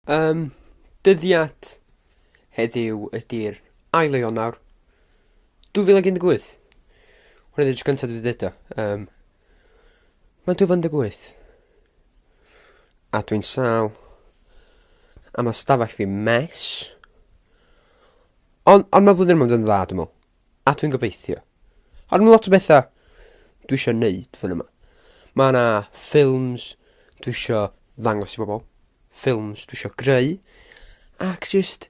Yym, dyddiad heddiw ydy'r ail o Ionawr dwy fil ac un deg wyth. Hwn ydy'r tro cyntaf dwi 'di deud o, yym... Mae'n dwy fil ac un deg wyth a dwi'n sâl a ma' stafell fi'n mess. Ond ond ma' flwyddyn yma mynd i fod yn dda dwi'n meddwl. A dwi'n gobeithio. Ond ma' lot o betha dwi isio wneud flwyddyn yma. Mae 'na ffilms dwi isio ddangos i bobl, ffilms dwi isio greu ac jyst...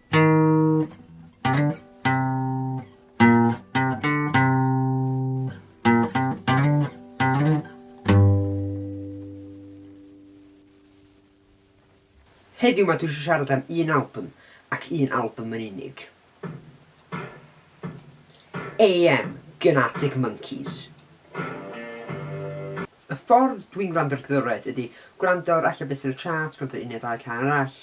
Heddiw 'ma dwi isio siarad am un albwm ac un albwm yn unig. AM gan Arctic Monkeys. Y ffordd dwi'n gwrando ar gerddoriaeth ydy gwrando ar ella be sy'n y charts, gwrando ar un neu ddau cân arall.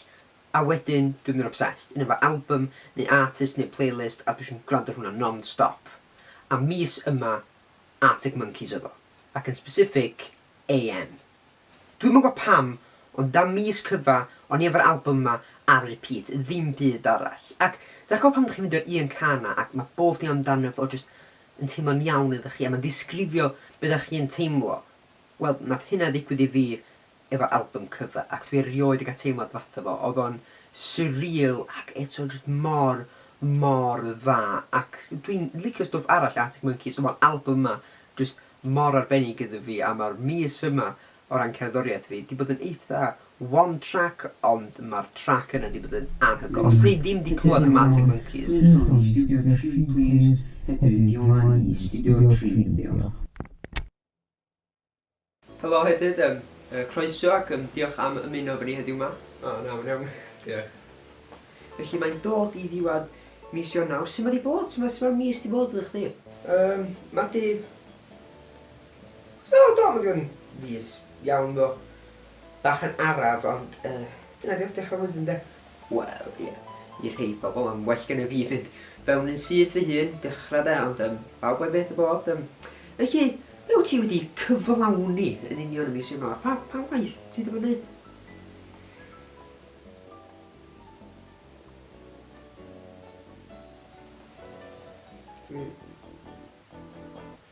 A wedyn dwi'n mynd yn obsessed, un efo album neu artist neu playlist a dwi jyst yn gwrando ar hwnna non-stop. A mis yma, Arctic Monkeys oedd o. Ac yn specific, AM. Dwi'm yn gwybod pam, ond am mis cyfa, o'n i efo'r album yma ar repeat, ddim byd arall. Ac dach chi'n gwybod pan dach chi'n ffeindio'r un cân 'na ac mae bob dim amdano fo jyst yn teimlo'n iawn iddo chi a mae'n disgrifio be dach chi'n teimlo? Wel, wnaeth hynna ddigwydd i fi efo album cyfa ac dwi erioed 'di cael teimlad fatha fo. Oedd o'n surreal ac eto jyst mor, mor dda ac dwi'n licio stwff arall Arctic Monkeys ond mae'r album yma jyst mor arbennig iddo fi a mae'r mis yma o ran cerddoriaeth fi 'di bod yn eitha one track ond mae'r trac yna 'di bod yn anhygoel. Os dych chi ddim 'di clywed am Arctic Monkeys... Croeso i Studio Tri plîs, heddiw 'di o 'ma i Studio Tri, diolch. Helo Hedydd, yym yy croeso ac yym diolch am ymuno efo ni heddiw 'ma. O, na, mae'n iawn. Diolch. Felly mae'n dod i ddiwedd mis Ionawr, su' ma' 'di bod? Su' ma' su' ma'r mis 'di bod iddo chdi? Yym, ma' 'di... Do, do, ma' 'di bod yn fis iawn ddo. Bach yn araf ond yy dyna 'di o, dechra flwyddyn de. Wel, ie, i rhei pobl mae'n well gennyf fi fynd fewn yn syth fy hun, dechrau de, ond yym pawb a'i beth y bodd, yym. Felly, be wyt ti wedi cyflawni yn union y mis yma? Pa pa waith ti 'di bod yn wneud? Hmm.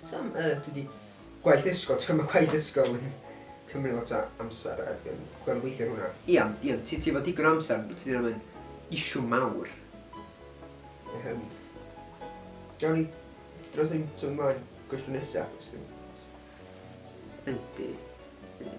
Sa'm yy dwi 'di... Gwaith ysgol, ti'n gwbod ma' gwaith ysgol yn cymryd lot o amser a dwi'n gorfod gweithio ar hwnna. Ia ond ia ti ti efo digon o amser ond tydi hynna ddim yn issue mawr. Yym gawn ni dros hyn symud mlaen? Cwestiwn nesa os dim ots. Yndi yndi.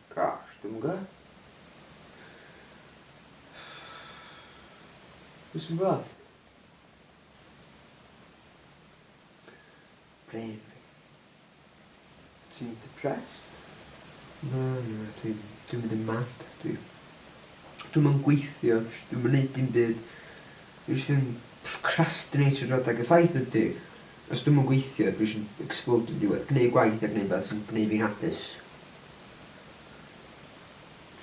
Gosh, dwi'm yn gwbod. Dwi jyst yn gwbod. Bravery. Ti'n depressed? Na, na, dwi'n dwi'n mynd yn mad. Dwi dwi'm yn gweithio, jyst dwi'm yn neud dim byd. Dwi jyst yn procrastinatio drwy'r adeg. Y ffaith ydi, os dwi'm yn gweithio, dwi jyst yn ecsblowdio yn diwedd. Gwneud gwaith a gwneud rwbath sy'n gwneud fi'n hapus.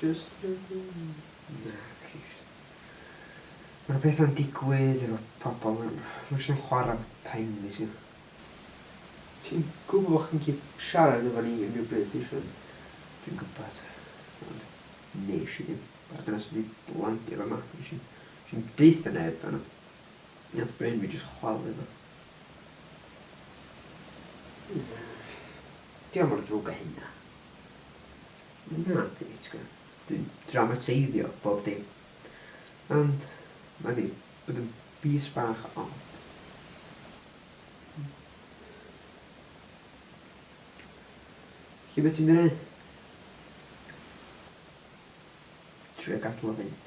Just a dream. Na, ceisiau. Mae pethau'n digwydd efo pobl, mae'n jyst yn chwarae pen fi ti. Ti'n gwybod bod chi'n gallu siarad efo ni unrhyw bryd ti eisiau. Dwi'n gwybod, ond nes i ddim. Mae'r dynes wedi landio fama, nes i'm, nes i'm deutha neb a nath, nath brain fi jyst chwalu fo. Na. Dio mor ddrwg a hynna. Na, ti gwbod, dwi'n dramatiseiddio bob dim. Ond, mae 'di bod yn fis bach od. Felly be ti'n mynd i wneud? Trio gadael o fynd.